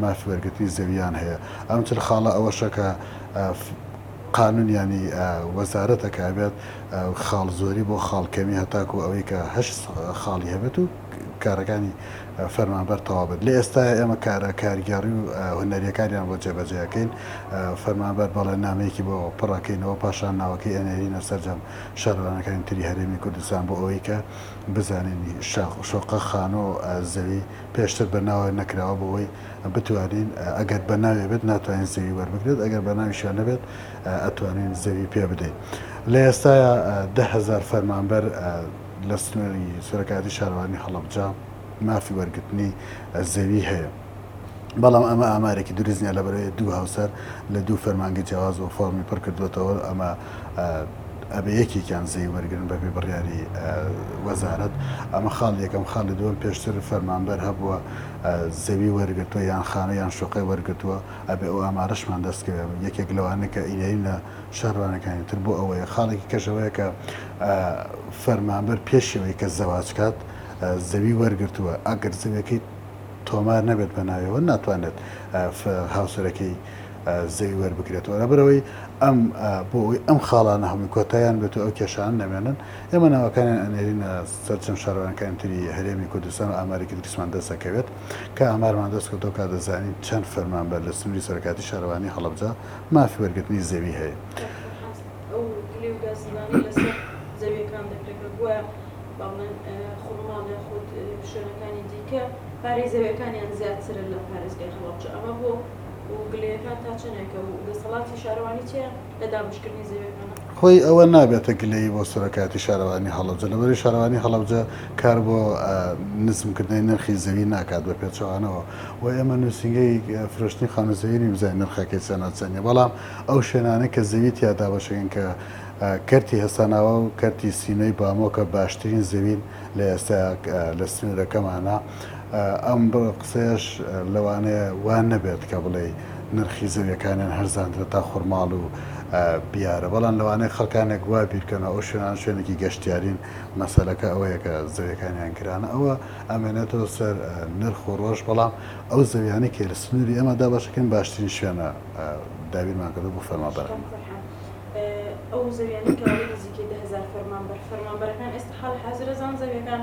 مافی وەرگرتنی زەوییان هەیە. ئەم چل خاڵە ئەوەشە کە قانونیانی وەزارەت ئەکا بێت خاڵ زۆری بۆ خاڵ کەمی هەتاکو ئەوەی کە هەشت خاڵی هەبێت و کارەکانی فەرمانبەر تەواو بێت لە ئێستایا ئێمە کارە کارگێڕی و هونەریەکانیان بۆ جێبەجێ ئەکەین فەرمانبەر بەڵێننامەیەکی بۆ پڕ ئەکەینەوە پاشان ناوەکەی ئەنێرینە سەرجەم شارەوانەکانی تری هەرێمی کوردستان بۆ ئەوەی کە بزانین شاقوشۆقە خانوو زەوی پێشتر بە ناوە نەکراوە بۆوەی بتوانین ئەگەر بە ناوێ بێت ناتوانین زەوی وەربگرێت ئەگەر بە ناویشا نەبێت ئەتوانین زەوی پێ بدەین لە ئێستایا دە هەزار فەرمانبەر لە سنووری سەرکاتی شارەوانی هەڵەبجە مافی وەرگرتنی زەوی هەیە بەڵام ئەمە ئامارێکی دروستنیە لە بەرەوەی دوو هاوسەر لە دوو فەرمانگە جیاواز بۆ فۆرمی پڕکردوێتەوە ئەمە ئەبێ یەکێکیان زێی وەرگرن بەبێ بڕیاری وەزارەت، ئەمە خاڵی یەکەم، خاڵی دووەم پێشتر فەرمانبەر هەبووە زەوی وەرگرتووە یان خانوو یان شوقەی وەرگرتووە، ئەبێ ئەو ئامارەشمان دەست کەوێ، یەکێک لەوانە کە ئیدەیین لە شارەوانیەکانی تر بۆ ئەوەیە، خاڵێکی کەش ئەوەیە کە فەرمانبەر پێش ئەوەی کە زەواج کات زەوی وەرگرتووە، ئەگەر زەویەکەی تۆمار نەبێت بە ناویەوە ناتوانێت هاوسەرەکەی زەوی وەربگرێتەوە لەبەرئەوەی ئەم بۆ ئەوی ئەم خاڵانە هەمووی کۆتایان بێت و ئەو کێشان نەمێنن ئێمە ناوەکانیان ئەنێرینە سەرچەند شارەوانەکانی تری هەرێمی کوردستان و ئامارێکی دروستمان دەسەکەوێت کە ئامارمان دەست کردەوە کا دەزانین چەند فەرمانبەر لە سنووری سەرکاتی شارەوانی هەڵەبجە مافی وەرگرتنی زەوی هەیە. و گلەیەکان تا چەنێکە و دەسەڵاتی شارەوانی چیە لە دابەشکردنی زەویەکانە؟ هۆی ئەوە نابێتە گلەیی بۆ سەرۆکایەتی شارەوانی هەڵەبجە لەبەرەی شارەوانی هەڵەبجە کار بۆ نزم کردنەی نرخی زەوی ناکات بە پێچەوانەوە و ئێمە نوسینگەی فرۆشتنی خانو زەوی نین بزانین نرخەکەی چەنە چەنیە بەڵام ئەو شوێنانەی کە زەوی تیا دابەشەکەن کە کەرتی هەسەناوە و کەرتی سینەی بامۆکە باشترین زەوین لە ئێستا لە سنورەکەمانە. ئەم قسەیەش لەوانەیە وا نەبێت کە بڵێی نرخی زەویەکانیان هەرزاندرێت تا خورماڵ و بیارە بەڵام لەوانەیە خەڵکانێک وا بیرکەنەوە ئەو شوێنان شوێنێکی گەشتیارین مەسەلەکە ئەوەیە کە زەویەکانیان گرانە ئەوە ئەمێنێتەوە سەر نرخ و ڕۆژ بەڵام ئەو زەویانە کە لە سنووری ئەمە دابەشەکەن باشترین شوێنە دابینمان کردو بۆ فەرمانبەران ئەو زەویانە کە نزیکەی دە هەزار فەرمانبەر فەرمانبەرەکان ئێستا حاڵی حازرە زان زەویەکان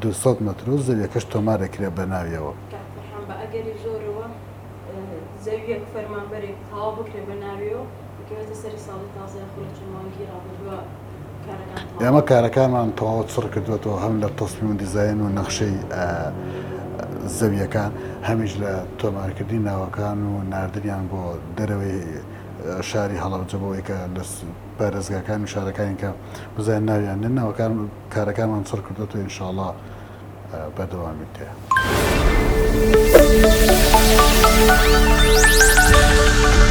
دوو سەد مەتر و زەویەکەش تۆمار ئەکرێ بە ناویەوە. کاک فەرحان بە ئەگەری زۆرەوە زەویەک فەرمانبەرێک تەواو بکرێ بە ناویەوە بکەوێتە سەری ساڵی تازە یاخۆ لە چەند مانگی ڕابردووە کارەکان تەواو ئێمە کارەکانمان تەواو چڕ کردووەتەوە هەم لە تەسمیم و دیزاین و نەخشەی زەویەکان هەمیش لە تۆمارکردنی ناوەکان و ناردنیان بۆ دەرەوەی شاری هەڵەبجە بۆ ئەوەی کە لە پارێزگاکان و شارەکانی کە بزانین ناویان ناوەکان کارەکانمان چڕ کردۆتەوە انشااللە بەردەوامیت هەیە.